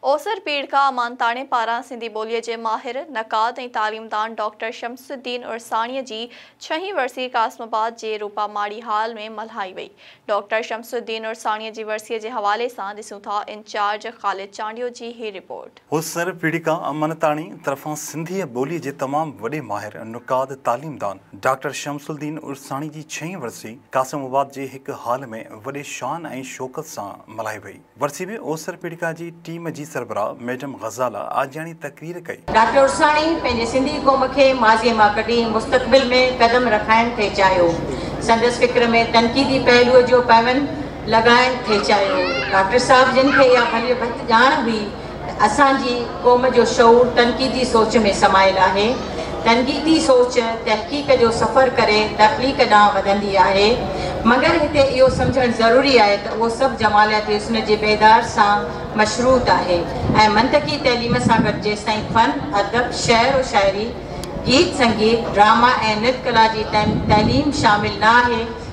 اوسر پيڙهه کان امانتاڻي پاران سنڌي ٻوليء جي ماهر، نقاد ۽ تعليمدان ڊاڪٽر شمس الدين عرساڻيء جي ڇهين ورسي قاسم آباد جي روپا ماڙي هال ۾ ملهائي وئي. ڊاڪٽر شمس الدين عرساڻيء جي ورسيء جي حوالي سان ڏسون ٿا انچارج خالد چانڊيو جي هي رپورٽ. اوسر پيڙهه کان امانتاڻي طرفان سنڌيء ٻوليء جي تمام وڏي ماهر، نقاد، تعليمدان ڊاڪٽر شمس الدين عرساڻي جي ڇهين ورسي قاسم آباد جي هڪ هال ۾ وڏي شان ۽ شوڪت سان ملهائي وئي. ورسي ۾ اوسر پيڙڪا جي ٽيم جي سربراهه ميڊم غزاله آجياڻي تقرير ڪئي. ڊاڪٽر عرساڻي پنهنجي سنڌي قوم کي ماضيء مان ڪڍي مستقبل ۾ قدم رکائڻ ٿي چاهيو. سندس فڪر ۾ تنقيدي پهلوء جو پيوند لڳائڻ ٿي چاهيو. ڊاڪٽر صاحب جن کي اها ڀليء ڀت ڄاڻ هئي اسان جي قوم جو شعور تنقيدي سوچ ۾ سمايل آهي. تنقيدي سوچ تحقيق جو سفر ڪري تخليق ڏانهن وڌندي آهي. مگر هتي اهو سمجهڻ ضروري آهي ته اهو سڀ جمالياتي حسن جي بيدار سان مشروط آهي ۽ منطقي تعليم سان گڏ جيستائين فن، ادب، شعر و شاعري، گيت سنگيت، ڊراما ۽ نت ڪلا جي تعليم شامل نه آهي،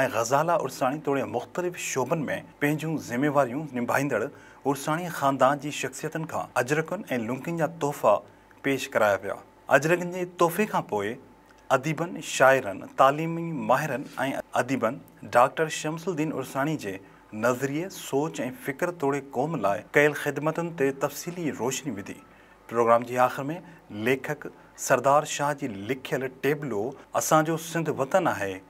۽ غزاله عرساڻي توڙي مختلف شعبن ۾ پنهنجون ذميواريون نڀائيندڙ عرساڻي خاندان جي شخصيتن کان اجرڪن ۽ لنڪين جا تحفا پيش ڪرايا ويا. اجرڪن جي تحفي کان پوء اديبن، شاعرن، تعليمي ماهرن ۽ اديبن ڊاڪٽر شمس الدين عرساڻي جي نظريي، سوچ ۽ فڪر توڙي قوم لاء ڪيل خدمتن تي تفصيلي روشني وڌي. پروگرام جي آخر ۾ ليکڪ سردار شاهه جي لکيل ٽيبلو اسان جو سنڌ وطن آهي،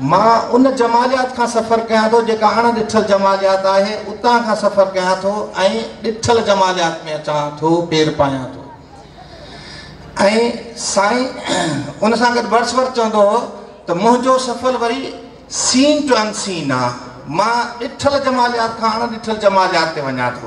مان ان جماليات کان سفر ڪيان ٿو جيڪا اڻ ڏٺل جماليات آهي، اتان کان سفر ڪيان ٿو ۽ ڏٺل جماليات ۾ اچان ٿو، پير پايان ٿو. ۽ سائين ان سان گڏ ورس ورس چوندو هو ته منهنجو سفر وري سين ٽو ان سين آ، مان ڏٺل جماليات کان اڻ ڏٺل جماليات تي وڃان ٿو.